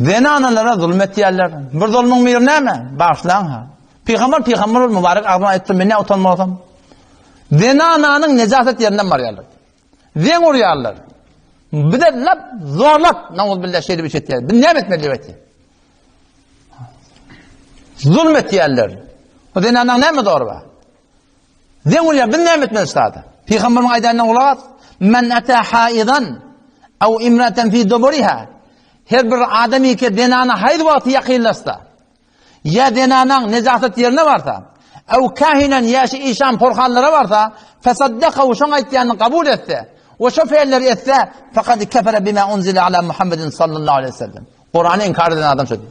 Zenanalara zulum etýärler. Bir zulmuň miri näme? Bagşlaň ha. Pygamber pygamber bol mübarek agzyna aýtdy, men ne utanmasam. Zenananyň nejaset ýerinden barýarlar. Zen urýarlar. Bize lap zorlap nawuz billah şeýle bir etýär. Biz näme etmeli diýip aýtdy. Zulm etýärler. O zenanaň näme zor bar? Zeň bolýar, biz näme etmeli sada? Pygamberiň aýdanyna gulak as. Men ata haidan aw imratan fi duburiha. Her bir adam ýeke zenana haýz wagty ýakynlaşsa, ýa zenanaň nejasat ýerine barsa, aw kahinan ýaşy işan porhanlara barsa, fasaddaka we şoň aýtýanyny kabul etse, we şo feýilleri etse, fakat kefere bima unzile ala Muhammedin sallallahu aleyhi ve sellem. Kur'an'ı inkar eden adam şodur.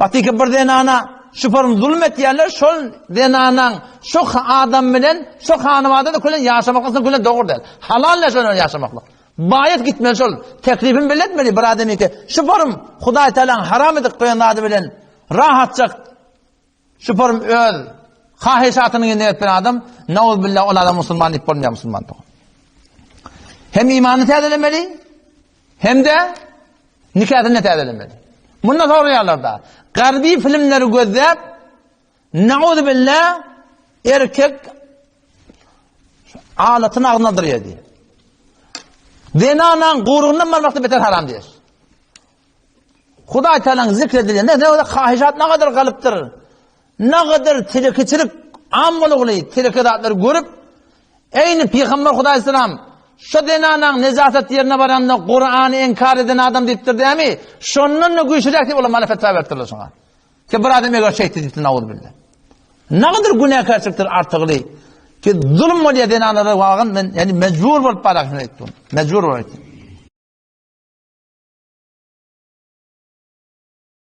Wagtyky bir zenana şu form zulum etýänler şol zenanaň şu adam bilen şu hanybada kölen ýaşamaklygyny kölen dogry däl. Halal näşe bilen ýaşamaklyk. Baýat gitmeli şol. Teklibim belli etmeli bir adam ýeke. Şu form Hudaý Tealaň haram edip goýan zady bilen rahatça şu form öz haýyşatyny ýerine ýetiren adam nawz billah ol adam musulman diýip bolmaýar musulman dogry. Hem imany täzelemeli, Hem-de nikasyny-da täzelemeli. Munda soraýarlar-da, garbi filmleri gözläp, nauzubilla, erkek alatyny agzyna aldyrýar diýip. Zenanaň gurugyndan barmakda beter haram diýýär. Hudaý Taalanyň zikr edilende ne kadar kahişat ne kadar galypdyr. Nagadar telekeçilik am bolugly teleke zatlary görüp, eýni Pygamber Hudaý salam, Şu zenanaň nejaset ýerine baranda Kurany inkar eden adam diýipdir dämi, şondan-da güýçliräk diýip olar mana fetwa beripdirler şoňa. Ki bir adam eger şeýtdi diýipdir nauzubilla. Nagadar günäkärçilikdir artygly. Ki zulum bolýar zenanlara wagyn men ýani mejbur bolup barak şony aýtdym. Mejbur bolup aýtdym.